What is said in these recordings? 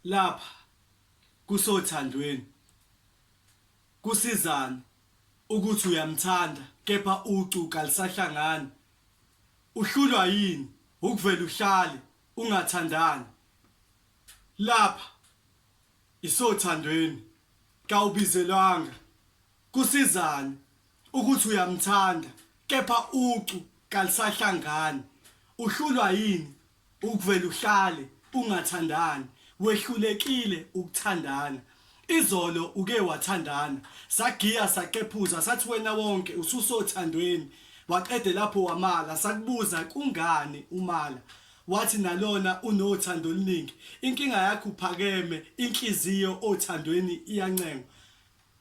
Lapha kusothandweni kusizani ukuthi uyamthanda kepha ucu kalisahlangani uhlulwa yini ukuvele uhlale ungathandani lapha isothandweni kawubizelwanga kusizani ukuthi uyamthanda kepha ucu kalisahlangani uhlulwa yini Ukuvele uhlale ungathandani wehlulekile ukuthandana izolo uke wathandana sagiya saqephuza sathi wena wonke ususothandweni waqede lapho wamala sakubuza kungani umala wathi nalona unothando oluningi inkinga yakho uphakeme inhliziyo othandweni iyancenga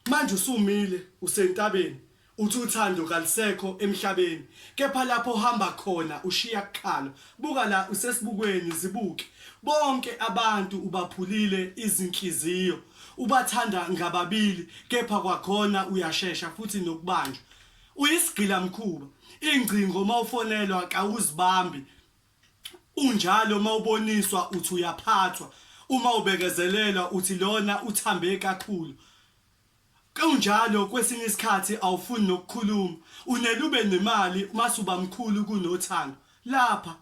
Manje usumile usentabeni uthi uthando kalusekho emhlabeni kepha lapho ohamba khona ushiya kuqala buka la usesibukweni zibuke bonke abantu ubaphulile izinhliziyo ubathanda ngababili kepha kwakhona uyashesha futhi nokubanjwa uyisigila mkhuba ingcingo mawufonelwa kawuzibambi Unjalo uma uboniswa uthi uyaphathwa, uma ubekezelelwa uthi lona uthambe kakhulu. Kunjalo kwesinye isikhathi awufuni nokukhuluma, unele ube nemali mase uba mkhulu kunothando. Lapha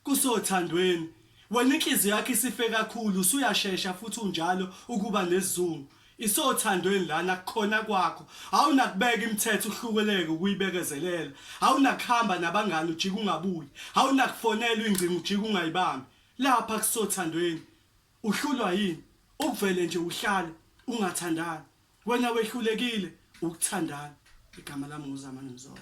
kusothandweni, wena inhliziyo yakho isife kakhulu, usuyashesha futhi unjalo ukuba nesizungu. Isothandweni lana kukhona kwakho awunakubeka imithetho uhlukeleke ukuyibekezelela awunakuhamba nabangani ujike ungabuyi awunakufonela ingcingo ujike ungayibambi lapha kusothandweni uhlulwa yini ukuvele nje uhlale ungathandani wena wehlulekile ukuthandana igama lami nguzamani mzola